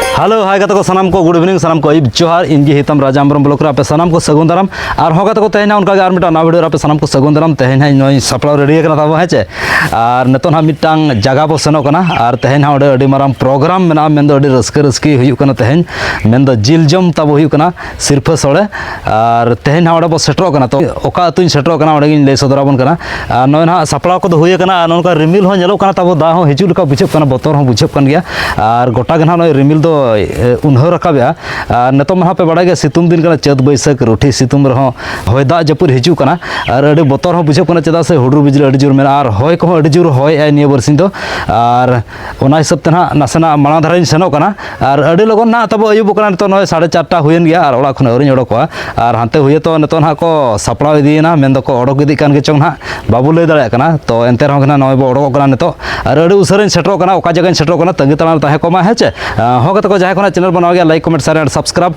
Hello hi ᱜᱟᱛᱮ ᱠᱚ ᱥᱟᱱᱟᱢ ᱠᱚ ᱜᱩᱰ ᱤᱵᱷᱤᱱᱤᱝ ᱥᱟᱱᱟᱢ ᱠᱚ ᱟᱹᱭᱩᱵ ᱡᱚᱦᱟᱨ ᱤᱧ ᱜᱮ ᱦᱤᱛᱟᱢ ᱨᱟᱡᱟ ᱦᱮᱢᱵᱨᱚᱢ ᱵᱞᱚᱠ ᱨᱮ ᱟᱯᱮ ᱥᱟᱱᱟᱢ ᱠᱚ ᱥᱟᱹᱜᱩᱱ ᱫᱟᱨᱟᱢ ᱟᱨ ᱦᱚᱸ ᱜᱟᱛᱮ ᱠᱚ ᱛᱮᱦᱮᱧ ᱚᱱᱠᱟ ᱜᱮ ᱟᱨ ᱢᱤᱫᱴᱟᱝ ᱱᱟᱣᱟ ᱵᱷᱤᱰᱤᱭᱳ ᱨᱮ ᱟᱯᱮ ᱥᱟᱱᱟᱢ ᱠᱚ ᱥᱟᱹᱜᱩᱱ ᱫᱟᱨᱟᱢ ᱛᱮᱦᱮᱧ ᱦᱟᱸᱜ ᱱᱚᱜᱼᱚᱭ ᱥᱟᱯᱲᱟᱣ ᱨᱮᱰᱤ ᱟᱠᱟᱱᱟ ᱛᱟᱵᱚ ᱦᱮᱸ ᱪᱮ ᱟᱨ ᱱᱤᱛᱚᱜ ᱦᱟᱸᱜ ᱢᱤᱫᱴᱟᱝ ᱡᱟᱭᱜᱟ ᱵᱚ ᱥᱮᱱᱚᱜ ᱠᱟᱱᱟ ᱟᱨ ᱛᱮᱦᱮᱧ ᱦᱟᱸᱜ ᱚᱸᱰᱮ ᱟᱹᱰᱤ ᱢᱟᱨᱟᱝ ᱯᱨᱳᱜᱨᱟᱢ ᱢᱮᱱᱟᱜᱼᱟ ᱢᱮᱱᱫᱚ ᱟᱹᱰᱤ ᱨᱟᱹᱥᱠᱟᱹ ᱨᱟᱹᱥᱠᱤ ᱦᱩᱭᱩᱜ ᱠᱟᱱᱟ ᱛᱮᱦᱮᱧ ᱢᱮᱱᱫᱚ ᱡᱤᱞ ᱡᱚᱢ ᱛᱟᱵᱚ ᱦᱩᱭᱩᱜ ᱠᱟᱱᱟ ᱥᱤᱨᱯᱷᱟᱹ ᱥᱚᱲᱮ ᱟᱨ ᱛᱮᱦᱮᱧ ᱦᱟᱸᱜ ᱚᱸᱰᱮ ᱵᱚ ᱥᱮᱴᱮᱨᱚᱜ ᱠᱟᱱᱟ ᱛᱚ ᱚᱠᱟ ᱟᱹᱛᱩᱧ ᱥᱮᱴᱮᱨᱚᱜ ᱠᱟᱱᱟ ᱚᱸᱰᱮ ᱜᱤᱧ ᱞᱟᱹᱭ ᱥᱚᱫᱚᱨᱟᱵᱚᱱ ᱠᱟᱱᱟ ᱟᱨ ᱱᱚᱜᱼᱚᱭ ᱱᱟᱦᱟᱜ ᱥᱟᱯᱲᱟᱣ ᱠᱚᱫᱚ ᱦᱩᱭ ᱟᱠᱟᱱᱟ ᱟᱨ ᱱᱚᱝᱠᱟ ᱨᱤᱢᱤᱞ ᱦᱚᱸ ᱧᱮᱞᱚᱜ ᱠᱟᱱᱟ ᱛᱟᱵᱚ ᱫᱟᱜ ᱦᱚᱸ ᱦᱤᱡᱩᱜ ᱞᱮᱠᱟ ᱵᱩᱡᱷᱟᱹᱜ ᱠᱟᱱᱟ ᱵᱚᱛᱚᱨ ᱦᱚᱸ ᱵᱩᱡᱷᱟᱹᱜ ᱠᱟᱱ ᱜᱮᱭᱟ ᱟᱨ ᱜᱚᱴᱟ ᱜᱮ ᱱᱟᱦᱟᱜ ᱱᱚᱜᱼᱚᱭ ᱨᱤᱢᱤᱞ ᱫᱚ ᱩᱱᱦᱟᱹ ᱨᱟᱠᱟᱵᱮᱜᱼᱟ ᱟᱨ ᱱᱤᱛᱚᱜ ᱢᱟ ᱱᱟᱦᱟᱜ ᱯᱮ ᱵᱟᱲᱟᱭ ᱜᱮᱭᱟ ᱥᱤᱛᱩᱝ ᱫᱤᱱ ᱠᱟᱱᱟ ᱪᱟᱹᱛ ᱵᱟᱹᱭᱥᱟᱹᱠᱷ ᱨᱩᱴᱷᱤ ᱥᱤᱛᱩᱝ ᱨᱮᱦᱚᱸ ᱦᱚᱭ ᱫᱟᱜ ᱡᱟᱹᱯᱩᱫ ᱦᱤᱡᱩᱜ ᱠᱟᱱᱟ ᱟᱨ ᱟᱹᱰᱤ ᱵᱚᱛᱚᱨ ᱦᱚᱸ ᱵᱩᱡᱷᱟᱹᱜ ᱠᱟᱱᱟ ᱪᱮᱫᱟᱜ ᱥᱮ ᱦᱩᱰᱩᱨ ᱵᱤᱡᱽᱞᱤ ᱟᱹᱰᱤ ᱡᱳᱨ ᱢᱮᱱᱟᱜᱼᱟ ᱟᱨ ᱦᱚᱭ ᱠᱚᱦᱚᱸ ᱟᱹᱰᱤ ᱡᱳᱨ ᱦᱚᱭᱮᱜᱼᱟᱭ ᱱᱤᱭᱟᱹ ᱵᱟᱨᱥᱤᱧ ᱫᱚ ᱟᱨ ᱚᱱᱟ ᱦᱤᱥᱟᱹᱵ ᱛᱮ ᱱᱟᱦᱟᱜ ᱱᱟᱥᱮᱱᱟᱜ ᱢᱟᱲᱟᱝ ᱫᱷᱟᱨᱟᱧ ᱥᱮᱱᱚᱜ ᱠᱟᱱᱟ ᱟᱨ ᱟᱹᱰᱤ ᱞᱚᱜᱚᱱ ᱱᱟᱦᱟᱜ ᱛᱟᱵᱚ ᱟᱹᱭᱩᱵᱚᱜ ᱠᱟᱱᱟ ᱱᱤᱛᱚᱜ ᱱᱚᱜᱼᱚᱭ ᱥᱟᱲᱮ ᱪᱟᱨᱴᱟ ᱦᱩᱭᱮᱱ ᱜᱮᱭᱟ ᱟᱨ ᱚᱲᱟᱜ ᱠᱷᱚᱱ ᱟᱹᱣᱨᱤᱧ ᱚᱰᱚᱠᱚᱜᱼᱟ ᱟᱨ ᱦᱟᱱᱛᱮ ᱦᱩᱭᱮᱛᱚ ᱱᱤᱛᱚᱜ ᱱᱟᱦᱟᱜ ᱠᱚ ᱥᱟᱯᱲᱟᱣ ᱤᱫᱤᱭᱮᱱᱟ ᱢᱮᱱ ᱫᱚᱠᱚ ᱚᱰᱚᱠ ᱤᱫᱤᱜ ᱠᱟᱱ ᱜᱮᱪᱚᱝ ᱱᱟᱦᱟᱜ ᱵᱟᱵᱚ ᱞᱟᱹᱭ ᱫᱟᱲᱮᱭᱟᱜ ᱠᱟᱱᱟ ᱛᱚ ᱮᱱᱛᱮ ᱨᱮᱦᱚᱸ ᱜᱮ ᱱᱟᱦᱟᱜ ᱱᱚᱜᱼᱚᱭ ᱵᱚ ᱚᱰᱚᱠᱚᱜ ᱠᱟᱱᱟ ᱱᱤᱛᱚᱜ ᱟᱨ ᱟᱹᱰᱤ ᱩᱥᱟᱹᱨᱟᱧ ᱥᱮᱴᱮᱨᱚᱜ ᱠᱟᱱᱟ ᱚᱠᱟ ᱡᱟᱭᱜᱟᱧ ᱥᱮᱴᱮᱨᱚᱜ ᱠᱟᱱᱟ ᱛᱟᱺᱜᱤ ᱛᱟᱲᱟᱝ ᱨᱮ ᱛᱟᱦᱮᱸ ᱠᱚᱜ ᱢᱟ ᱦᱮᱸ ᱪᱮ ᱦᱚᱸ ᱜᱟᱛᱮ ᱠᱚ ᱡᱟᱦᱟᱸᱭ ᱠᱚ ᱱᱟᱦᱟᱜ ᱪᱮᱱᱮᱞ ᱵᱚᱱ ᱱᱟᱣᱟ ᱜᱮᱭᱟ like comment share and subscribe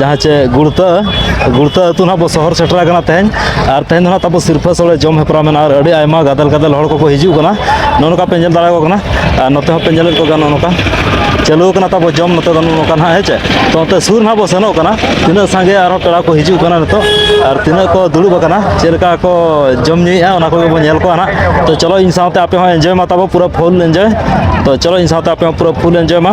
ᱡᱟᱦᱟᱸ ᱪᱮ ᱜᱩᱲᱛᱟᱹ ᱜᱩᱲᱛᱟᱹ ᱟᱹᱛᱩ ᱱᱟᱦᱟᱜ ᱵᱚ ᱥᱚᱦᱚᱨ ᱥᱮᱴᱮᱨ ᱟᱠᱟᱱᱟ ᱛᱮᱦᱮᱧ ᱟᱨ ᱛᱮᱦᱮᱧ ᱫᱚ ᱱᱟᱦᱟᱜ ᱛᱟᱵᱚ ᱥᱤᱨᱯᱷᱟᱹ ᱥᱚᱲᱮ ᱡᱚᱢ ᱦᱮᱯᱨᱟᱣ ᱢᱮᱱᱟᱜᱼᱟ ᱟᱨ ᱟᱹᱰᱤ ᱟᱭᱢᱟ ᱜᱟᱫᱮᱞ ᱜᱟᱫᱮᱞ ᱦᱚᱲ ᱠᱚᱠᱚ ᱦᱤᱡᱩᱜ ᱠᱟᱱᱟ ᱱᱚᱜᱼᱚ ᱱᱚᱝᱠᱟ ᱯᱮ ᱧᱮᱞ ᱫᱟᱲᱮᱭᱟᱠᱚ ᱠᱟᱱᱟ ᱟᱨ ᱱᱚᱛᱮ ᱦᱚᱸᱯᱮ ᱧᱮᱞᱮᱫ ᱠᱚᱜᱮᱭᱟ ᱱᱚᱜᱼᱚ ᱱᱚᱝᱠᱟ ᱪᱟᱹᱞᱩ ᱟᱠᱟᱱᱟ ᱛᱟᱵᱚ ᱡᱚᱢ ᱱᱚᱛᱮ ᱫᱚ ᱱᱚᱜᱼᱚ ᱱᱚᱝᱠᱟ ᱱᱟᱦᱟᱜ ᱦᱮᱸ ᱪᱮ ᱛᱚ ᱱᱚᱛᱮ ᱥᱩᱨ ᱱᱟᱦᱟᱜ ᱵᱚ ᱥᱮᱱᱚᱜ ᱠᱟᱱᱟ ᱛᱤᱱᱟᱹᱜ ᱥᱟᱸᱜᱮ ᱟᱨᱦᱚᱸ ᱯᱮᱲᱟ ᱠᱚ ᱦᱤᱡᱩᱜ ᱠᱟᱱᱟ ᱱᱤᱛᱚᱜ ᱟᱨ ᱛᱤᱱᱟᱹᱜ ᱠᱚ ᱫᱩᱲᱩᱵ ᱟᱠᱟᱱᱟ ᱪᱮᱫ ᱞᱮᱠᱟ ᱠᱚ ᱡᱚᱢ ᱧᱩᱭᱮᱫᱼᱟ ᱚᱱᱟ ᱠᱚᱜᱮ ᱵᱚ ᱧᱮᱞ ᱠᱚᱣᱟ ᱱᱟᱦᱟᱜ ᱛᱚ ᱪᱚᱞᱚ ᱤᱧ ᱥᱟᱶᱛᱮ ᱟᱯᱮ ᱦᱚᱸ ᱮᱱᱡᱚᱭ ᱢᱟ ᱛᱟᱵᱚ ᱯᱩᱨᱟᱹ ᱯᱷᱩᱞ ᱮᱱᱡᱚᱭ ᱛᱚ ᱪᱚᱞᱚ ᱤᱧ ᱥᱟᱶᱛᱮ ᱟᱯᱮ ᱦᱚᱸ ᱯᱩᱨᱟᱹ ᱯᱷᱩᱞ ᱮᱱᱡᱚᱭ ᱢᱟ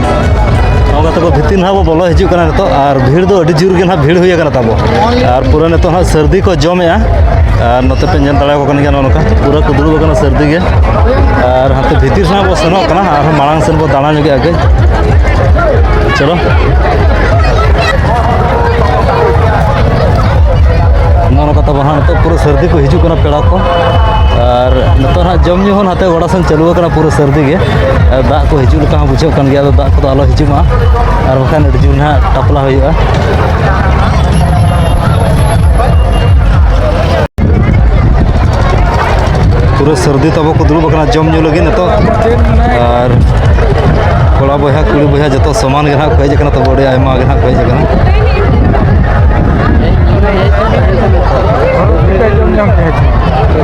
ᱱᱚᱜᱼᱚ ᱛᱟᱵᱚ ᱵᱷᱤᱛᱤᱨ ᱱᱟᱦᱟᱜ ᱵᱚ ᱵᱚᱞᱚ ᱦᱤᱡᱩᱜ ᱠᱟᱱᱟ ᱱᱤᱛᱚᱜ ᱟᱨ ᱵᱷᱤᱲ ᱫᱚ ᱟᱹᱰᱤ ᱡᱳᱨ ᱜᱮ ᱱᱟᱦᱟᱜ ᱵᱷᱤᱲ ᱦᱩᱭ ᱟᱠᱟᱱᱟ ᱛᱟᱵᱚ ᱟᱨ ᱯᱩᱨᱟᱹ ᱱᱤᱛᱚᱜ ᱱᱟᱦᱟᱜ ᱥᱟᱹᱨᱫᱤ ᱠᱚ ᱡᱚᱢᱮᱜᱼᱟ ᱟᱨ ᱱᱚᱛᱮ ᱯᱮ ᱧᱮᱞ ᱫᱟᱲᱮᱭᱟᱠᱚ ᱠᱟᱱ ᱜᱮᱭᱟ ᱱᱚᱜᱼᱚ ᱱᱚᱝᱠᱟ ᱯᱩᱨᱟᱹ ᱠᱚ ᱫᱩᱲᱩᱵ ᱟᱠᱟᱱᱟ ᱥᱟᱹᱨᱫᱤ ᱜᱮ ᱟᱨ ᱦᱟᱱᱛᱮ ᱵᱷᱤᱛᱤᱨ ᱥᱮᱱᱟᱜ ᱵᱚ ᱥᱮᱱᱚᱜ ᱠᱟᱱᱟ ᱟᱨᱦᱚᱸ ᱢᱟᱲᱟᱝ ᱥᱮᱱ ᱵᱚ ᱫᱟᱬᱟ ᱧᱚᱜᱮᱜᱼᱟ ᱠᱟᱹᱡ ᱪᱚᱞᱚ ᱱᱚᱜᱼᱚ ᱱᱚᱝᱠᱟ ᱛᱟᱵᱚ ᱦᱟᱸᱜ ᱱᱤᱛᱚᱜ ᱯᱩᱨᱟᱹ ᱥᱟᱹᱨᱫᱤ ᱠᱚ ᱦᱤᱡᱩᱜ ᱠᱟᱱᱟ ᱯᱮᱲᱟ ᱠᱚ ᱟᱨ ᱱᱤᱛᱚᱜ ᱦᱟᱸᱜ ᱡᱚᱢ ᱧᱩ ᱦᱚᱸ ᱚᱱᱟᱛᱮ ᱜᱚᱰᱟ ᱥᱮᱱ ᱪᱟᱹᱞᱩ ᱟᱠᱟᱱᱟ ᱯᱩᱨᱟᱹ ᱥᱟᱹᱨᱫᱤ ᱜᱮ ᱫᱟᱜ ᱠᱚ ᱦᱤᱡᱩᱜ ᱞᱮᱠᱟ ᱦᱚᱸ ᱵᱩᱡᱷᱟᱹᱜ ᱠᱟᱱ ᱜᱮᱭᱟ ᱟᱫᱚ ᱫᱟᱜ ᱠᱚᱫᱚ ᱟᱞᱚ ᱦᱤᱡᱩᱜ ᱢᱟ ᱟᱨ ᱵᱟᱠᱷᱟᱱ ᱟᱹᱰᱤ ᱡᱳᱨ ᱱᱟᱦᱟᱜ ᱴᱟᱯᱞᱟ ᱦᱩᱭᱩᱜᱼᱟ ᱯᱩᱨᱟᱹ ᱥᱟᱹᱨᱫᱤ ᱛᱟᱵᱚ ᱠᱚ ᱫᱩᱲᱩᱵ ᱟᱠᱟᱱᱟ ᱡᱚᱢ ᱧᱩ ᱞᱟᱹᱜᱤᱫ ᱱᱤᱛᱚᱜ ᱟᱨ ᱠᱚᱲᱟ ᱵᱚᱭᱦᱟ ᱠᱩᱲᱤ ᱵᱚᱭᱦᱟ ᱡᱚᱛᱚ ᱥᱚᱢᱟᱱ ᱜᱮ ᱱᱟᱦᱟᱜ ᱠᱚ ᱦᱮᱡ ᱟᱠᱟᱱᱟ ᱛᱚᱵᱮ ᱟᱹᱰᱤ ᱟᱭᱢᱟ ᱜᱮ ᱱᱟᱦᱟᱜ ᱠᱚ ᱦᱮᱡ ᱟᱠᱟᱱᱟ ᱡᱚᱢ ᱧᱟᱢ ᱠᱮᱫᱟ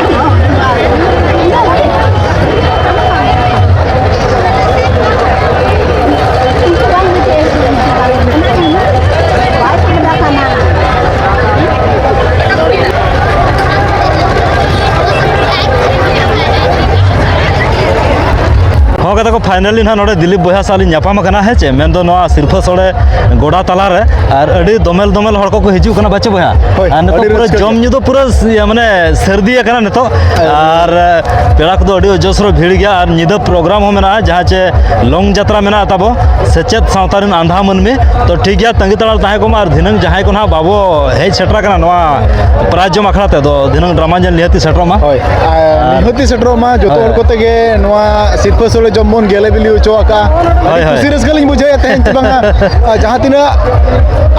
ᱠᱟᱛᱮ ᱠᱚ ᱯᱷᱟᱭᱱᱟᱞᱤ ᱱᱟᱦᱟᱜ ᱱᱚᱰᱮ ᱫᱤᱞᱤᱯ ᱵᱚᱭᱦᱟ ᱥᱟᱶ ᱞᱤᱧ ᱧᱟᱯᱟᱢ ᱟᱠᱟᱱᱟ ᱦᱮᱸ ᱪᱮ ᱢᱮᱱ ᱫᱚ ᱱᱚᱣᱟ ᱥᱤᱨᱯᱷᱟᱹ ᱥᱚᱲᱮ ᱜᱚᱰᱟ ᱛᱟᱞᱟ ᱨᱮ ᱟᱨ ᱟᱹᱰᱤ ᱫᱚᱢᱮᱞ ᱫᱚᱢᱮᱞ ᱦᱚᱲ ᱠᱚᱠᱚ ᱦᱤᱡᱩᱜ ᱠᱟᱱᱟ ᱵᱟᱪᱮ ᱵᱚᱭᱦᱟ ᱟᱨ ᱱᱤᱛᱚᱜ ᱯᱩᱨᱟᱹ ᱡᱚᱢ ᱧᱩ ᱫᱚ ᱯᱩᱨᱟᱹ ᱢᱟᱱᱮ ᱥᱟᱹᱨᱫᱤ ᱟᱠᱟᱱᱟ ᱱᱤᱛᱚᱜ ᱟᱨ ᱯᱮᱲᱟ ᱠᱚᱫᱚ ᱟᱹᱰᱤ ᱚᱡᱚᱥᱨᱚ ᱵᱷᱤᱲ ᱜᱮᱭᱟ ᱟᱨ ᱧᱤᱫᱟᱹ ᱯᱨᱳᱜᱨᱟᱢ ᱦᱚᱸ ᱢᱮᱱᱟᱜᱼᱟ ᱡᱟᱦᱟᱸ ᱪᱮ ᱞᱚᱝ ᱡᱟᱛᱨᱟ ᱢᱮᱱᱟᱜᱼᱟ ᱛᱟᱵᱚ ᱥᱮᱪᱮᱫ ᱥᱟᱶᱛᱟ ᱨᱮᱱ ᱟᱸᱫᱷᱟ ᱢᱟᱹᱱᱢᱤ ᱛᱚ ᱴᱷᱤᱠ ᱜᱮᱭᱟ ᱛᱟᱺᱜᱤ ᱛᱟᱲᱟᱨ ᱛᱟᱦᱮᱸ ᱠᱚᱢᱟ ᱟᱨ ᱫᱷᱤᱱᱟᱹᱝ ᱡᱟᱦᱟᱸᱭ ᱠᱚ ᱱᱟᱦᱟᱜ ᱵᱟᱵᱚ ᱦᱮᱡ ᱥᱮᱴᱮᱨ ᱟᱠᱟᱱᱟ ᱱᱚᱣᱟ ᱯᱨᱟᱭᱤᱡᱽ ᱡᱚᱢ ᱟᱠᱷᱲᱟ ᱛᱮ ᱫᱚ ᱫᱷᱤᱱᱟᱹᱝ ᱰᱨᱟᱢᱟ ᱧᱮᱞ ᱱᱤᱦᱟᱹᱛᱤ ᱥᱮᱴᱮᱨᱚᱜ ᱢᱟ ᱦᱳᱭ ᱱᱤᱦᱟᱹᱛᱤ ᱥᱮᱴᱮᱨᱚᱜ ᱢᱟ ᱡᱚᱛᱚ ᱦᱚᱲ ᱠᱚᱛᱮ ᱜᱮ ᱱᱚᱣᱟ ᱥᱤᱨᱯᱟᱹ ᱥᱚᱲᱮ ᱡᱚᱢ ᱵᱚᱱ ᱜᱮᱞᱮ ᱵᱤᱞᱤ ᱦᱚᱪᱚ ᱟᱠᱟᱜᱼᱟ ᱟᱹᱰᱤ ᱠᱩᱥᱤ ᱨᱟᱹᱥᱠᱟᱹ ᱞᱤᱧ ᱵᱩᱡᱷᱟᱹᱣᱮᱫ ᱛᱟᱦᱮᱸᱫ ᱪᱮ ᱵᱟᱝᱟ ᱡᱟᱦᱟᱸ ᱛᱤᱱᱟᱹᱜ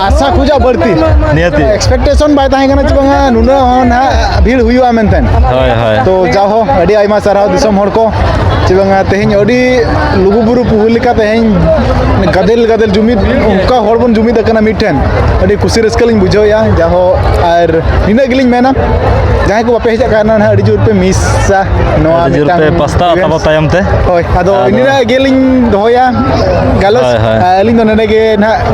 ᱟᱥᱟ ᱠᱷᱚᱡᱟᱜ ᱵᱟᱹᱲᱛᱤ ᱱᱤᱦᱟᱹᱛᱤ ᱮᱠᱥᱯᱮᱠᱴᱮᱥᱚᱱ ᱵᱟᱭ ᱛᱟᱦᱮᱸ ᱠᱟᱱᱟ ᱪᱮ ᱵᱟᱝᱟ ᱱᱩᱱᱟᱹᱜ ᱱᱟᱦᱟᱜ ᱵᱷᱤᱲ ᱦᱩᱭᱩᱜᱼᱟ ᱢᱮᱱᱛᱮ ᱦᱳᱭ ᱦᱳᱭ ᱛᱚ ᱡᱟᱣᱦᱚ ᱟᱹᱰᱤ ᱟᱭᱢᱟ ᱥᱟᱨᱦᱟᱣ ᱫᱤᱥᱚᱢ ᱦᱚᱲ ᱠᱚ ᱪᱮ ᱵᱟᱝᱟ ᱛᱮᱦᱮᱧ ᱟᱹᱰᱤ ᱞᱩᱜᱩᱵᱩᱨᱩ ᱯᱩᱦᱩ ᱞᱮᱠᱟ ᱛᱮᱦᱮᱧ ᱜᱟᱫᱮᱞ ᱜᱟᱫᱮᱞ ᱡᱩᱢᱤᱫ ᱚᱱᱠᱟ ᱦᱚᱲ ᱵᱚᱱ ᱡᱩᱢᱤᱫ ᱟᱠᱟᱱᱟ ᱢᱤᱫᱴᱷᱮᱱ ᱟᱹᱰᱤ ᱠᱩᱥᱤ ᱨᱟᱹᱥᱠᱟᱹ ᱞᱤᱧ ᱵᱩᱡᱷᱟᱹᱣᱮᱫᱼᱟ ᱡᱟᱦᱚ ᱟᱨ ᱱᱤᱱᱟᱹᱜ ᱜᱮᱞᱤᱧ ᱢᱮᱱᱟ ᱡᱟᱦᱟᱸᱭ ᱠᱚ ᱵᱟᱯᱮ ᱦᱮᱡ ᱟᱠᱟᱱᱟ ᱱᱟᱦᱟᱜ ᱟᱹᱰᱤ ᱡᱳᱨ ᱯᱮ ᱢᱤᱥᱟ ᱱᱚᱣᱟ ᱟᱹᱰᱤ ᱡᱳᱨ ᱯᱮ ᱢᱤᱫᱴᱟᱝ ᱯᱟᱥᱛᱟ events᱾ ᱟᱛᱟᱵᱚ ᱛᱟᱭᱚᱢ ᱛᱮ ᱦᱳᱭ ᱟᱫᱚ ᱟᱫᱚ- ᱱᱤᱱᱟᱹᱜ ᱜᱮᱞᱤᱧ ᱫᱚᱦᱚᱭᱟ ᱜᱟᱞᱚᱪ ᱦᱳᱭ, ᱦᱳᱭ᱾ ᱟᱹᱞᱤᱧ ᱫᱚ ᱱᱚᱰᱮ ᱜᱮ ᱱᱟᱦᱟᱜ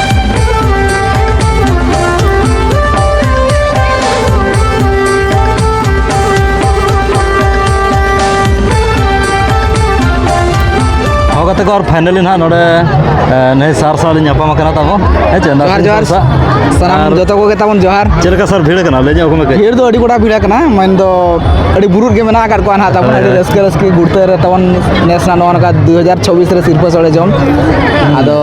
ᱜᱟᱛᱮ ᱠᱚ ᱟᱨ ᱯᱷᱟᱭᱱᱟᱞᱤ ᱱᱟᱦᱟᱜ ᱱᱚᱰᱮ ᱱᱟᱹᱭ ᱥᱟᱨ ᱥᱟᱶ ᱞᱤᱧ ᱧᱟᱯᱟᱢ ᱟᱠᱟᱱᱟ ᱛᱟᱵᱚ ᱦᱮᱸ ᱪᱮ ᱡᱚᱦᱟᱨ ᱡᱚᱦᱟᱨ ᱥᱟᱱᱟᱢ ᱡᱚᱛᱚ ᱠᱚᱜᱮ ᱛᱟᱵᱚᱱ ᱡᱚᱦᱟᱨ ᱪᱮᱫ ᱞᱮᱠᱟ ᱥᱟᱨ ᱵᱷᱤᱲ ᱠᱟᱱᱟ ᱞᱟᱹᱭ ᱧᱚᱜ ᱠᱚᱢᱮ ᱵᱷᱤᱲ ᱫᱚ ᱟᱹᱰᱤ ᱜᱚᱴᱟ ᱵᱷᱤᱲ ᱠᱟᱱᱟ ᱢᱮᱱ ᱫᱚ ᱟᱹᱰᱤ ᱵᱩᱨᱩᱫ ᱜᱮ ᱢᱮᱱᱟᱜ ᱟᱠᱟᱫ ᱠᱚᱣᱟ ᱱᱟᱦᱟᱜ ᱛᱟᱵᱚᱱ ᱟᱹᱰᱤ ᱨᱟᱹᱥᱠᱟᱹ ᱨᱟᱹᱥᱠᱟᱹ ᱜᱩᱲᱛᱟᱹ ᱨᱮ ᱛᱟᱵᱚᱱ ᱱᱮᱥ ᱱᱟᱜ ᱱᱚᱜᱼᱚ ᱱᱚᱝᱠᱟ ᱫᱩ ᱦᱟᱡᱟᱨ ᱪᱷᱚᱵᱵᱤᱥ ᱨᱮ ᱥᱤᱨᱯᱟᱹ ᱥᱚᱲᱮ ᱡᱚᱢ ᱟᱫᱚ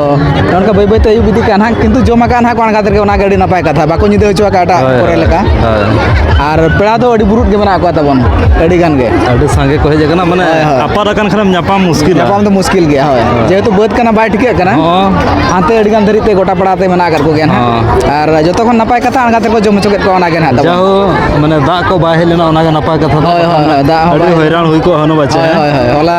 ᱱᱚᱝᱠᱟ ᱵᱟᱹᱭ ᱵᱟᱹᱭᱛᱮ ᱟᱹᱭᱩᱵ ᱤᱫᱤᱜ ᱠᱟᱱ ᱦᱟᱸᱜ ᱠᱤᱱᱛᱩ ᱡᱚᱢ ᱟᱠᱟᱫ ᱦᱟᱸᱜ ᱠᱚ ᱟᱬᱜᱟᱛ ᱨᱮᱜᱮ ᱚᱱᱟᱜᱮ ᱟᱹᱰᱤ ᱱᱟᱯᱟᱭ ᱠᱟᱛᱷᱟ ᱵᱟᱠᱚ ᱧᱤᱫᱟᱹ ᱦᱚᱪᱚ ᱟᱠᱟᱫ ᱮᱴᱟᱜ ᱠᱚᱨᱮ ᱞᱮᱠᱟ ᱟᱨ ᱯᱮᱲᱟ ᱫᱚ ᱟᱹᱰᱤ ᱵᱩᱨᱩᱫ ᱜᱮ ᱢᱮᱱᱟᱜ ᱠᱚᱣᱟ ᱛᱟᱵᱚᱱ ᱟᱹᱰᱤ ᱜᱟᱱ ᱜᱮ ᱟᱹᱰᱤ ᱥᱟᱸᱜᱮ ᱠᱚ ᱦᱮᱡ ᱟᱠᱟᱱᱟ ᱢᱟᱱᱮ ᱟᱯᱟᱨ ᱟᱠᱟᱱ ᱠᱷᱟᱱᱮᱢ ᱧᱟᱯᱟᱢ ᱢᱩᱥᱠᱤᱞ ᱧᱟᱯᱟᱢ ᱫᱚ ᱢᱩᱥᱠᱤᱞ ᱜᱮᱭᱟ ᱦᱳᱭ ᱡᱮᱦᱮᱛᱩ ᱵᱟᱹᱫᱽ ᱠᱟᱱᱟ ᱵᱟᱭ ᱴᱷᱤᱠᱟᱹᱜ ᱠᱟᱱᱟ ᱦᱟᱱᱛᱮ ᱟᱹᱰᱤ ᱜᱟᱱ ᱫᱷᱟᱹᱨᱤᱡ ᱛᱮ ᱜᱚᱴᱟ ᱯᱟᱲᱟ ᱛᱮ ᱢᱮᱱᱟᱜ ᱟᱠᱟᱫ ᱠᱚᱜᱮᱭᱟ ᱱᱟᱦᱟᱜ ᱟᱨ ᱡᱚᱛᱚ ᱠᱷᱚᱱ ᱱᱟᱯᱟᱭ ᱠᱟᱛᱷᱟ ᱟᱬᱜᱟᱛ ᱨᱮᱠᱚ ᱡᱚᱢ ᱦᱚᱪᱚ ᱠᱮᱫ ᱠᱚᱣᱟ ᱚᱱᱟᱜᱮ ᱱᱟᱦᱟᱜ ᱛᱟᱵᱚᱱ ᱡᱟᱦᱳ ᱢᱟᱱᱮ ᱫᱟᱜ ᱠᱚ ᱵᱟᱭ ᱦᱮᱡ ᱞᱮᱱᱟ ᱚᱱᱟᱜᱮ ᱱᱟᱯᱟᱭ ᱠᱟᱛᱷᱟ ᱦᱳᱭ ᱦᱳᱭ ᱫᱟᱜ ᱦᱚᱸ ᱟᱹᱰᱤ ᱦᱚᱭᱨᱟᱱ ᱦᱩᱭ ᱠᱚᱜᱼᱟ ᱦᱟᱹᱱᱩ ᱵᱟᱪᱮ ᱦᱳᱭ ᱦᱳᱭ ᱦᱚᱞᱟ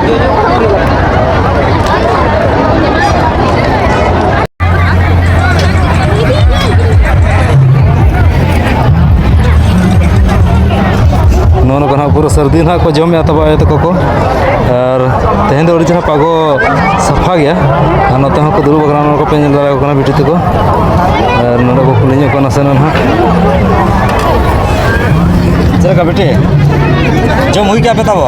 ᱱᱚᱜᱼᱚ ᱱᱚᱝᱠᱟ ᱱᱟᱦᱟᱜ ᱯᱩᱨᱟᱹ ᱥᱟᱹᱨᱫᱤ ᱱᱟᱦᱟᱜ ᱠᱚ ᱡᱚᱢᱮᱫᱼᱟ ᱛᱟᱵᱚ ᱟᱭᱳ ᱛᱟᱠᱚ ᱠᱚ ᱟᱨ ᱛᱮᱦᱮᱧ ᱫᱚ ᱟᱹᱰᱤ ᱪᱮᱦᱨᱟ ᱯᱟᱜᱚ ᱥᱟᱯᱷᱟ ᱜᱮᱭᱟ ᱟᱨ ᱱᱚᱛᱮ ᱦᱚᱸ ᱠᱚ ᱫᱩᱲᱩᱵ ᱟᱠᱟᱱᱟ ᱱᱚᱣᱟ ᱠᱚᱯᱮ ᱧᱮᱞ ᱫᱟᱲᱮᱭᱟᱠᱚ ᱠᱟᱱᱟ ᱵᱤᱴᱤ ᱛᱟᱠᱚ ᱟᱨ ᱱᱚᱰᱮ ᱠᱚ ᱠᱩᱞᱤ ᱧᱚᱜ ᱠᱚ ᱱᱟᱥᱮᱱᱟᱜ ᱱᱟᱦᱟᱜ ᱪᱮᱫ ᱞᱮᱠᱟ ᱵᱤᱴᱤ ᱡᱚᱢ ᱦᱩᱭ ᱠᱮᱫᱼᱟ ᱯᱮ ᱛᱟᱵᱚ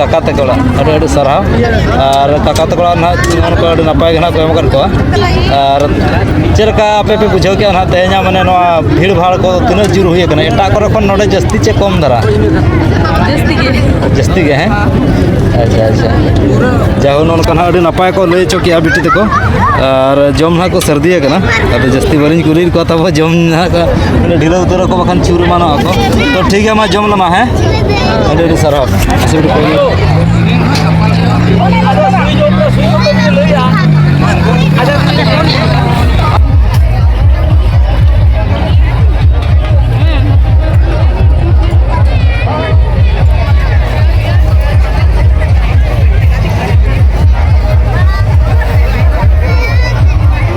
ᱠᱟᱠᱟ ᱛᱟᱠᱚ ᱚᱲᱟᱜ ᱟᱹᱰᱤ ᱟᱹᱰᱤ ᱥᱟᱨᱦᱟᱣ ᱟᱨ ᱠᱟᱠᱟ ᱛᱟᱠᱚ ᱚᱲᱟᱜ ᱱᱟᱦᱟᱜ ᱡᱮᱢᱚᱱ ᱠᱚ ᱟᱹᱰᱤ ᱱᱟᱯᱟᱭ ᱜᱮ ᱱᱟᱦᱟᱜ ᱠᱚ ᱮᱢ ᱟᱠᱟᱫ ᱠᱚᱣᱟ ᱟᱨ ᱪᱮᱫ ᱞᱮᱠᱟ ᱟᱯᱮ ᱯᱮ ᱵᱩᱡᱷᱟᱹᱣ ᱠᱮᱫᱼᱟ ᱱᱟᱦᱟᱜ ᱛᱮᱦᱮᱧᱟᱜ ᱢᱟᱱᱮ ᱱᱚᱣᱟ ᱵᱷᱤᱲ ᱵᱷᱟᱲ ᱠᱚ ᱛᱤᱱᱟᱹᱜ ᱡᱳᱨ ᱦᱩᱭ ᱟᱠᱟᱱᱟ ᱮᱴᱟᱜ ᱠᱚᱨᱮ ᱠᱷᱚᱱ ᱱᱚᱰᱮ ᱡᱟᱹᱥᱛᱤ ᱪᱮ ᱠᱚᱢ ᱫᱷᱟᱨᱟ ᱡᱟᱹᱥᱛᱤ ᱜᱮ ᱦᱮᱸ ᱟᱪᱪᱷᱟ ᱟᱪᱪᱷᱟ ᱡᱟᱦᱳ ᱱᱚᱝᱠᱟ ᱱᱟᱦᱟᱜ ᱟᱹᱰᱤ ᱱᱟᱯᱟᱭ ᱠᱚ ᱞᱟᱹᱭ ᱦᱚᱪᱚ ᱠᱮᱜᱼᱟ ᱵᱤᱴᱤ ᱛᱟᱠᱚ ᱟᱨ ᱡᱚᱢ ᱱᱟᱦᱟᱜ ᱠᱚ ᱥᱟᱹᱨᱫᱤ ᱟᱠᱟᱱᱟ ᱟᱫᱚ ᱡᱟᱹᱥᱛᱤ ᱵᱟᱹᱞᱤᱧ ᱠᱩᱞᱤᱭᱮᱫ ᱠᱚᱣᱟ ᱛᱟᱵᱚ ᱡᱚᱢ ᱱᱟᱦᱟᱜ ᱵᱚᱞᱮ ᱰᱷᱤᱞᱟᱹ ᱩᱛᱟᱹᱨ ᱟᱠᱚ ᱵᱟᱠᱷᱟᱱ ᱪᱩᱨ ᱮᱢᱟᱱᱚᱜ ᱟᱠᱚ ᱛᱚ ᱴᱷᱤᱠ ᱜᱮᱭᱟ ᱢᱟ ᱡᱚᱢ ᱞᱮᱢᱟ ᱦᱮᱸ ᱟᱹᱰᱤ ᱟᱹᱰᱤ ᱥᱟᱨᱦᱟᱣ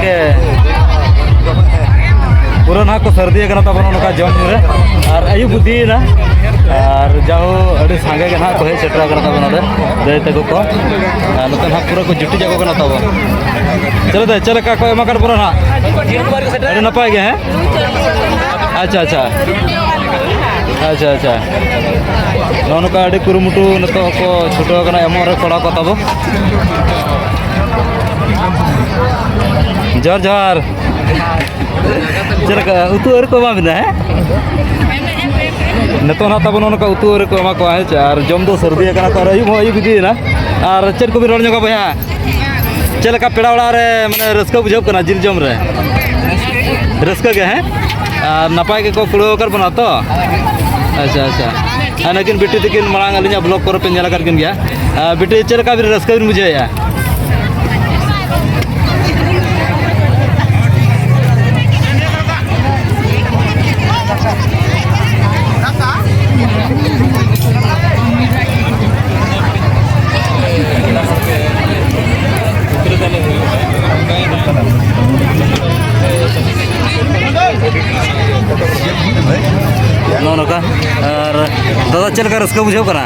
ᱜᱚᱢᱠᱮ ᱯᱩᱨᱟᱹ ᱱᱟᱦᱟᱜ ᱠᱚ ᱥᱟᱹᱨᱫᱤ ᱟᱠᱟᱱᱟ ᱛᱟᱵᱚᱱ ᱱᱚᱝᱠᱟ ᱡᱚᱢ ᱧᱩ ᱨᱮ ᱟᱨ ᱟᱹᱭᱩᱵ ᱵᱩᱫᱷᱤᱭᱮᱱᱟ ᱟᱨ ᱡᱟᱦᱳ ᱟᱹᱰᱤ ᱥᱟᱸᱜᱮ ᱜᱮ ᱱᱟᱦᱟᱜ ᱠᱚ ᱦᱮᱡ ᱥᱮᱴᱮᱨ ᱟᱠᱟᱱᱟ ᱛᱟᱵᱚᱱ ᱱᱚᱰᱮ ᱫᱟᱹᱭ ᱛᱟᱠᱚ ᱠᱚ ᱟᱨ ᱱᱚᱛᱮ ᱱᱟᱦᱟᱜ ᱯᱩᱨᱟᱹ ᱠᱚ ᱡᱩᱴᱤ ᱡᱟᱠᱚ ᱠᱟᱱᱟ ᱛᱟᱵᱚᱱ ᱪᱮᱞᱮ ᱫᱟᱹᱭ ᱪᱮᱫ ᱞᱮᱠᱟ ᱠᱚ ᱮᱢᱟ ᱠᱟᱫ ᱵᱚᱱᱟ ᱱᱟᱦᱟᱜ ᱟᱹᱰᱤ ᱱᱟᱯᱟᱭ ᱜᱮ ᱦᱮᱸ ᱟᱪᱪᱷᱟ ᱟᱪᱪᱷᱟ ᱟᱪᱪᱷᱟ ᱟᱪᱪᱷᱟ ᱱᱚᱜᱼᱚ ᱱᱚᱝᱠᱟ ᱟᱹᱰᱤ ᱠᱩᱨᱩᱢᱩᱴᱩ ᱱᱤᱛᱚᱜ ᱦᱚᱸᱠᱚ ᱪᱷᱩᱴᱟᱹᱣ ᱟᱠᱟᱱᱟ ᱮᱢᱚᱜ ᱨᱮ ᱠᱚᱲᱟ ᱠᱚ ᱛᱟᱵᱚ ᱡᱚᱦᱟᱨ ᱡᱚᱦᱟᱨ ᱪᱮᱫ ᱞᱮᱠᱟ ᱩᱛᱩ ᱟᱹᱨᱤ ᱠᱚ ᱮᱢᱟ ᱵᱤᱱᱟ ᱦᱮᱸ ᱱᱤᱛᱚᱜ ᱱᱟᱜ ᱛᱟᱵᱚᱱ ᱚᱱᱠᱟ ᱩᱛᱩ ᱟᱹᱨᱤ ᱠᱚ ᱮᱢᱟ ᱠᱚᱣᱟ ᱦᱮᱸ ᱪᱮ ᱟᱨ ᱡᱚᱢ ᱫᱚ ᱥᱟᱹᱨᱫᱤ ᱟᱠᱟᱱᱟ ᱛᱚ ᱟᱨ ᱟᱹᱭᱩᱵ ᱦᱚᱸ ᱟᱹᱭᱩᱵ ᱤᱫᱤᱭᱮᱱᱟ ᱟᱨ ᱪᱮᱫ ᱠᱚᱵᱤᱱ ᱨᱚᱲ ᱧᱚᱜᱟ ᱵᱚᱭᱦᱟ ᱪᱮᱫ ᱞᱮᱠᱟ ᱯᱮᱲᱟ ᱚᱲᱟᱜ ᱨᱮ ᱢᱟᱱᱮ ᱨᱟᱹᱥᱠᱟᱹ ᱵᱩᱡᱷᱟᱹᱜ ᱠᱟᱱᱟ ᱡᱤᱞ ᱡᱚᱢ ᱨᱮ ᱨᱟᱹᱥᱠᱟᱹ ᱜᱮ ᱦᱮᱸ ᱟᱨ ᱱᱟᱯᱟᱭ ᱜᱮᱠᱚ ᱠᱩᱲᱟᱹᱣ ᱟᱠᱟᱫ ᱵᱚᱱᱟ ᱛᱚ ᱟᱪᱪᱷᱟ ᱟᱪᱪᱷᱟ ᱟᱨ ᱱᱩᱠᱤᱱ ᱵᱤᱴᱤ ᱛᱤᱠᱤᱱ ᱢᱟᱲᱟᱝ ᱟᱹᱞᱤᱧᱟᱜ ᱵᱞᱚᱜ ᱠᱚᱨᱮ ᱯᱮ ᱧᱮᱞ ᱟᱠᱟᱫ ᱠᱤᱱ ᱜᱮᱭᱟ ᱵᱤᱴᱤ ᱪᱮᱫ ᱞᱮᱠᱟ ᱵᱤᱱ ᱨᱟᱹᱥᱠᱟᱹ ᱵᱤᱱ ᱵᱩᱡᱷᱟᱹᱣᱮᱫᱼᱟ ᱱᱚᱜᱼᱚ ᱱᱚᱝᱠᱟ ᱟᱨ ᱫᱟᱫᱟ ᱪᱮᱫ ᱞᱮᱠᱟ ᱨᱟᱹᱥᱠᱟᱹ ᱵᱩᱡᱷᱟᱹᱜ ᱠᱟᱱᱟ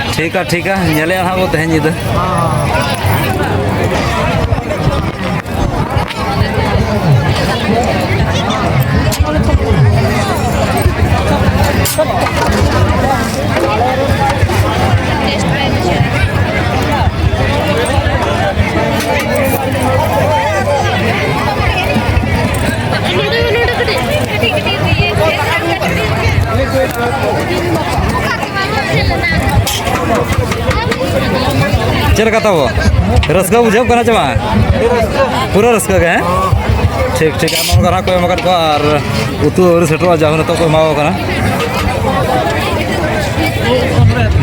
ᱴᱷᱤᱠ ᱟ ᱴᱷᱤᱠ ᱟ ᱧᱮᱞᱮᱜᱼᱟ ᱦᱟᱸᱜ ᱵᱚ ᱛᱮᱦᱮᱧ ᱧᱤᱫᱟᱹ ᱪᱮᱫ ᱞᱮᱠᱟ ᱛᱟᱵᱚ ᱨᱟᱹᱥᱠᱟᱹ ᱵᱩᱡᱷᱟᱹᱜ ᱠᱟᱱᱟ ᱪᱮ ᱵᱟᱝ ᱯᱩᱨᱟᱹ ᱨᱟᱹᱥᱠᱟᱹ ᱜᱮ ᱦᱮᱸ ᱴᱷᱤᱠ ᱴᱷᱤᱠ ᱟᱭᱢᱟ ᱦᱚᱲ ᱜᱟᱨᱟ ᱠᱚ ᱮᱢ ᱟᱠᱟᱫ ᱠᱚᱣᱟ ᱟᱨ ᱩᱛᱩ ᱟᱹᱣᱨᱤ ᱥᱮᱴᱮᱨᱚᱜᱼᱟ ᱡᱟᱦᱳ ᱱᱤᱛᱚᱜ ᱠᱚ ᱮᱢᱟᱣ ᱠᱟᱱᱟ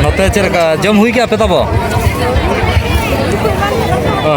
ᱱᱚᱛᱮ ᱪᱮᱫ ᱞᱮᱠᱟ ᱡᱚᱢ ᱦᱩᱭ ᱠᱮᱜᱼᱟ ᱯᱮ ᱛᱟᱵᱚ ᱚ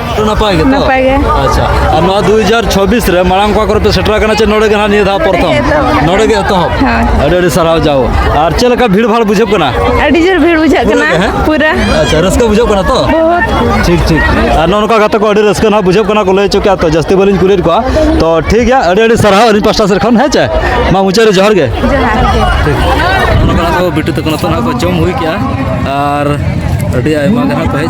ᱥᱮᱴᱮᱨ ᱱᱟᱯᱟᱭ ᱜᱮᱛᱚ ᱱᱟᱯᱟᱭ ᱜᱮ ᱟᱪᱪᱷᱟ ᱟᱨ ᱱᱚᱣᱟ ᱫᱩ ᱦᱟᱡᱟᱨ ᱪᱷᱚᱵᱵᱤᱥ ᱨᱮ ᱢᱟᱲᱟᱝ ᱚᱠᱟ ᱠᱚᱨᱮ ᱯᱮ ᱥᱮᱴᱮᱨ ᱟᱠᱟᱱᱟ ᱪᱮ ᱱᱚᱰᱮ ᱜᱮ ᱱᱟᱦᱟᱜ ᱱᱤᱭᱟᱹ ᱫᱷᱟᱣ ᱯᱨᱚᱛᱷᱚᱢ ᱱᱚᱰᱮ ᱜᱮ ᱮᱛᱚᱦᱚᱵ ᱟᱹᱰᱤ ᱟᱹᱰᱤ ᱥᱟᱨᱦᱟᱣ ᱡᱟᱣ ᱟᱨ ᱪᱮᱫ ᱞᱮᱠᱟ ᱵᱷᱤᱲ ᱵᱷᱟᱲ ᱵᱩᱡᱷᱟᱹᱜ ᱠᱟᱱᱟ ᱟᱹᱰᱤ ᱡᱳᱨ ᱵᱷᱤᱲ ᱵᱩᱡᱷᱟᱹᱜ ᱠᱟᱱᱟ ᱯᱩᱨᱟᱹ ᱟᱪᱪᱷᱟ ᱨᱟᱹᱥᱠᱟᱹ ᱵᱩᱡᱷᱟᱹᱜ ᱠᱟᱱᱟ ᱛᱚ ᱴᱷᱤᱠ ᱴᱷᱤᱠ ᱟᱨ ᱱᱚᱜᱼᱚ ᱱᱚᱝᱠᱟ ᱜᱟᱛᱮ ᱠᱚ ᱟᱹᱰᱤ ᱨᱟᱹᱥᱠᱟᱹ ᱱᱟᱦᱟᱜ ᱵᱩᱡᱷᱟᱹᱜ ᱠᱟᱱᱟ ᱠᱚ ᱞᱟᱹᱭ ᱦᱚᱪᱚ ᱠᱮᱜᱼᱟ ᱛᱚ ᱡᱟᱹᱥᱛᱤ ᱵᱟᱹᱞᱤᱧ ᱠᱩᱞᱤᱭᱮᱫ ᱠᱚᱣᱟ ᱛᱚ ᱴᱷᱤᱠ ᱜᱮᱭᱟ ᱟᱹᱰᱤ ᱟᱹᱰᱤ ᱥᱟᱨᱦᱟᱣ ᱟᱹᱞᱤᱧ ᱯᱟᱥᱴᱟ ᱥᱮᱫ ᱠᱷᱚᱱ ᱦᱮᱸ ᱪᱮ ᱢᱟ ᱢᱩᱪᱟᱹᱫ ᱨᱮ ᱡᱚᱦᱟᱨ ᱜᱮ ᱴᱷᱤᱠ ᱵᱤᱴᱩ ᱛᱟᱠᱚ ᱱᱤᱛᱚᱜ ᱱᱟᱦᱟᱜ ᱠᱚ ᱡᱚᱢ ᱦᱩᱭ ᱠᱮᱜᱼᱟ ᱟᱨ ᱟᱹᱰᱤ ᱟᱭᱢᱟ ᱜᱮ ᱱᱟᱦᱟᱜ ᱠᱚ ᱦᱮᱡ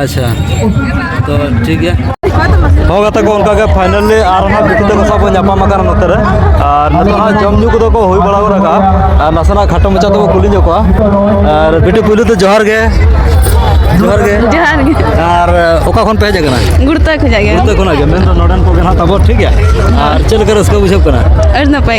ᱟᱪᱪᱷᱟ ᱛᱚ ᱴᱷᱤᱠ ᱜᱮᱭᱟ ᱦᱚᱸ ᱜᱟᱛᱮ ᱠᱚ ᱚᱱᱠᱟᱜᱮ ᱯᱷᱟᱭᱱᱟᱞᱤ ᱟᱨ ᱦᱟᱸᱜ ᱵᱤᱴᱤ ᱛᱟᱠᱚ ᱥᱟᱶ ᱵᱚᱱ ᱧᱟᱯᱟᱢ ᱟᱠᱟᱱᱟ ᱱᱚᱛᱮ ᱨᱮ ᱟᱨ ᱱᱤᱛᱚᱜ ᱦᱟᱸᱜ ᱡᱚᱢ ᱧᱩ ᱠᱚᱫᱚ ᱠᱚ ᱦᱩᱭ ᱵᱟᱲᱟ ᱜᱚᱫ ᱟᱠᱟᱜᱼᱟ ᱟᱨ ᱱᱟᱥᱮᱱᱟᱜ ᱠᱷᱟᱴᱚ ᱢᱟᱪᱷᱟ ᱛᱮᱵᱚ ᱠᱩᱞᱤ ᱧᱚᱜ ᱠᱚᱣᱟ ᱟᱨ ᱵᱤᱴᱤ ᱯᱩᱭᱞᱩ ᱫᱚ ᱡᱚᱦᱟᱨ ᱜᱮ ᱡᱚᱦᱟᱨ ᱜᱮ ᱡᱚᱦᱟᱨ ᱜᱮ ᱟᱨ ᱚᱠᱟ ᱠᱷᱚᱱ ᱯᱮ ᱦᱮᱡ ᱟᱠᱟᱱᱟ ᱜᱩᱲᱛᱟ ᱠᱷᱚᱡᱟᱜ ᱜᱮ ᱜᱩᱲᱛᱟ ᱠᱷᱚᱱᱟᱜ ᱜᱮ ᱢᱮᱱᱫᱚ ᱱᱚᱰᱮᱱ ᱠᱚᱜᱮ ᱦᱟᱸᱜ ᱛᱟᱵᱚ ᱴᱷᱤᱠ ᱜᱮᱭᱟ ᱟᱨ ᱪᱮᱫ ᱞᱮᱠᱟ ᱨᱟᱹᱥᱠᱟᱹ ᱵᱩᱡᱷᱟᱹᱜ ᱠᱟᱱᱟ ᱟᱹᱰᱤ ᱱᱟᱯᱟᱭ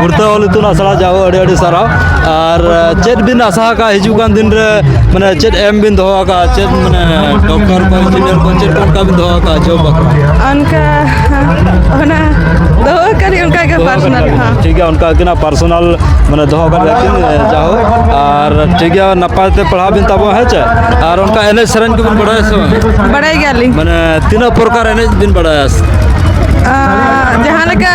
ᱜᱩᱨᱛᱟ ᱚᱞ ᱤᱛᱩᱱ ᱟᱥᱲᱟ ᱡᱟᱣ ᱟᱹᱰᱤ ᱟᱹᱰᱤ ᱥᱟᱨᱦᱟᱣ ᱟᱨ ᱪᱮᱫ ᱵᱤᱱ ᱟᱥᱟ ᱟᱠᱟᱫ ᱦᱤᱡᱩᱜ ᱠᱟᱱ ᱫᱤᱱ ᱨᱮ ᱢᱟᱱᱮ ᱪᱮᱫ ᱮᱢ ᱵᱤᱱ ᱫᱚᱦᱚ ᱟᱠᱟᱫ ᱪᱮᱫ ᱢᱟᱱᱮ ᱰᱚᱠᱴᱚᱨ ᱠᱚ ᱤᱧᱡᱤᱱᱤᱭᱟᱨ ᱠᱚ ᱪᱮᱫ ᱚᱱᱠᱟ ᱵᱤᱱ ᱫᱚᱦᱚ ᱟᱠᱟᱫ ᱡᱚᱵ ᱵᱟᱠᱷᱨᱟ ᱚᱱᱠᱟ ᱚᱱᱟ ᱫᱚᱦᱚ ᱟᱠᱟᱫ ᱚᱱᱠᱟ ᱜᱮ ᱯᱟᱨᱥᱚᱱᱟᱞ ᱴᱷᱤᱠ ᱜᱮᱭᱟ ᱚᱱᱠᱟ ᱜᱮ ᱯᱟᱨᱥᱚᱱᱟᱞ ᱢᱟᱱᱮ ᱫᱚᱦᱚ ᱟᱠᱟᱫ ᱞᱮᱠᱤᱱ ᱡᱟᱣ ᱟᱨ ᱴᱷᱤᱠ ᱜᱮᱭᱟ ᱱᱟᱯᱟᱭ ᱛᱮ ᱯᱟᱲᱦᱟᱣ ᱵᱤᱱ ᱛᱟᱵᱚᱱ ᱦᱮᱸ ᱪᱮ ᱟᱨ ᱚᱱᱠᱟ ᱮᱱᱮᱡ ᱥᱮᱨᱮᱧ ᱠᱚᱵᱤᱱ ᱵᱟᱲᱟᱭᱟ ᱥᱮ ᱵᱟᱝ ᱵᱟᱲᱟᱭ ᱜᱮᱭᱟᱞᱤᱧ ᱢᱟᱱᱮ ᱛᱤᱱᱟᱹᱜ ᱯᱨᱚᱠᱟᱨ ᱮᱱᱮᱡ ᱵᱤᱱ ᱵᱟᱲᱟᱭᱟ ᱡᱟᱦᱟᱸ ᱞᱮᱠᱟ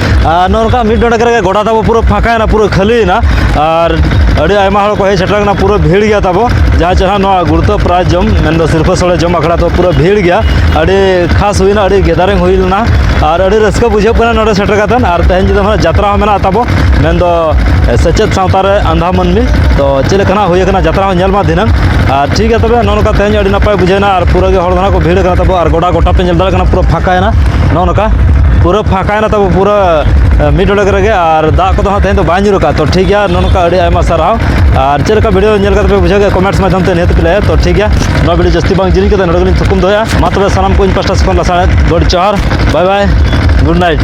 ᱟᱨ ᱱᱚᱝᱠᱟ ᱢᱤᱫ ᱰᱚᱸᱰᱮᱠ ᱨᱮᱜᱮ ᱜᱚᱰᱟ ᱛᱟᱵᱚ ᱯᱩᱨᱟᱹ ᱯᱷᱟᱸᱠᱟᱭᱮᱱᱟ ᱯᱩᱨᱟᱹ ᱠᱷᱟᱹᱞᱤᱭᱮᱱᱟ ᱟᱨ ᱟᱹᱰᱤ ᱟᱭᱢᱟ ᱦᱚᱲ ᱠᱚ ᱦᱮᱡ ᱥᱮᱴᱮᱨ ᱟᱠᱟᱱᱟ ᱯᱩᱨᱟᱹ ᱵᱷᱤᱲ ᱜᱮᱭᱟ ᱛᱟᱵᱚ ᱡᱟᱦᱟᱸ ᱪᱮᱦᱨᱟ ᱱᱚᱣᱟ ᱜᱩᱲᱛᱟᱹ ᱯᱨᱟᱭᱤᱡᱽ ᱡᱚᱢ ᱢᱮᱱᱫᱚ ᱥᱤᱨᱯᱟᱹ ᱥᱚᱲᱮ ᱡᱚᱢ ᱟᱠᱷᱲᱟ ᱫᱚ ᱯᱩᱨᱟᱹ ᱵᱷᱤᱲ ᱜᱮᱭᱟ ᱟᱹᱰᱤ ᱠᱷᱟᱥ ᱦᱩᱭᱱᱟ ᱟᱹᱰᱤ ᱜᱮᱫᱟᱨᱤᱝ ᱦᱩᱭ ᱞᱮᱱᱟ ᱟᱨ ᱟᱹᱰᱤ ᱨᱟᱹᱥᱠᱟᱹ ᱵᱩᱡᱷᱟᱹᱜ ᱠᱟᱱᱟ ᱱᱚᱰᱮ ᱥᱮᱴᱮᱨ ᱠᱟᱛᱮ ᱟᱨ ᱛᱮᱦᱮᱧ ᱧᱤᱫᱟᱹ ᱦᱚᱸ ᱡᱟᱛᱨᱟ ᱦᱚᱸ ᱢᱮᱱᱟᱜ ᱛᱟᱵᱚ ᱢᱮᱱᱫᱚ ᱥᱮᱪᱮᱫ ᱥᱟᱶᱛᱟ ᱨᱮ ᱟᱸᱫᱷᱟ ᱢᱟᱹᱱᱢᱤ ᱛᱚ ᱪᱮᱫ ᱞᱮᱠᱟᱱᱟᱜ ᱦᱩᱭ ᱟᱠᱟᱱᱟ ᱡᱟᱛᱨᱟ ᱦᱚᱸ ᱧᱮᱞ ᱢᱟ ᱫᱷᱤᱱᱟᱹᱝ ᱟᱨ ᱴᱷᱤᱠ ᱜᱮᱭᱟ ᱛᱚᱵᱮ ᱱᱚᱜᱼᱚ ᱱᱚᱝᱠᱟ ᱛᱮᱦᱮᱧ ᱟᱹᱰᱤ ᱱᱟᱯᱟᱭ ᱵᱩᱡᱷᱟᱹᱣᱱᱟ ᱟᱨ ᱯᱩᱨᱟᱹ ᱜᱮ ᱦᱚᱲ ᱫᱚ ᱦᱟᱸᱜ ᱠᱚ ᱵᱷᱤᱲ ᱟᱠᱟᱱᱟ ᱛᱟᱵᱚ ᱟᱨ ᱜᱚᱰᱟ ᱜᱚᱴᱟ ᱯᱮ ᱧᱮᱞ ᱫᱟᱲᱮᱭᱟᱜ ᱠᱟᱱᱟ ᱯᱩᱨᱟᱹ ᱯᱷᱟᱸᱠᱟᱭᱮᱱᱟ ᱱᱚᱜᱼᱚ ᱱᱚᱝᱠᱟ ᱯᱩᱨᱟᱹ ᱯᱷᱟᱸᱠᱟ ᱛᱟᱦᱮᱱᱟ ᱛᱟᱵᱚ ᱯᱩᱨᱟᱹ ᱢᱤᱫ ᱰᱚᱰᱮᱠ ᱨᱮᱜᱮ ᱟᱨ ᱫᱟᱜ ᱠᱚᱫᱚ ᱦᱟᱸᱜ ᱛᱮᱦᱮᱧ ᱫᱚ ᱵᱟᱭ ᱧᱩᱨᱩᱜᱼᱟ ᱛᱚ ᱴᱷᱤᱠ ᱜᱮᱭᱟ ᱱᱚᱝᱠᱟ ᱟᱹᱰᱤ ᱟᱭᱢᱟ ᱥᱟᱨᱦᱟᱣ ᱟᱨ ᱪᱮᱫ ᱞᱮᱠᱟ ᱵᱷᱤᱰᱤᱭᱳ ᱧᱮᱞ ᱠᱟᱛᱮ ᱯᱮ ᱵᱩᱡᱷᱟᱹᱣ ᱠᱮᱫᱟ ᱠᱚᱢᱮᱱᱴᱥ ᱢᱟᱫᱽᱫᱷᱚᱢ ᱛᱮ ᱱᱤᱦᱟᱹᱛ ᱯᱮ ᱞᱟᱹᱭᱟ ᱛᱚ ᱴᱷᱤᱠ ᱜᱮᱭᱟ ᱱᱚᱣᱟ ᱵᱷᱤᱰᱤᱭᱳ ᱡᱟᱹᱥᱛᱤ ᱵᱟᱝ ᱡᱤᱞᱤᱧ ᱠᱟᱛᱮ ᱱᱚᱰᱮ ᱜᱮᱞᱤᱧ ᱛᱷᱩᱠᱩᱢ ᱫᱚᱦᱚᱭᱟ ᱢᱟ ᱛᱚᱵᱮ ᱥᱟᱱᱟᱢ ᱠᱚ ᱤᱧ ᱯᱟᱥᱴᱟ ᱥᱮᱫ ᱠᱷᱚᱱ ᱞᱟᱥᱟᱲᱦᱮᱫ ᱜᱚᱰ ᱡᱚᱦᱟᱨ ᱵᱟᱭ ᱵᱟᱭ ᱜᱩᱰ ᱱᱟᱭᱤᱴ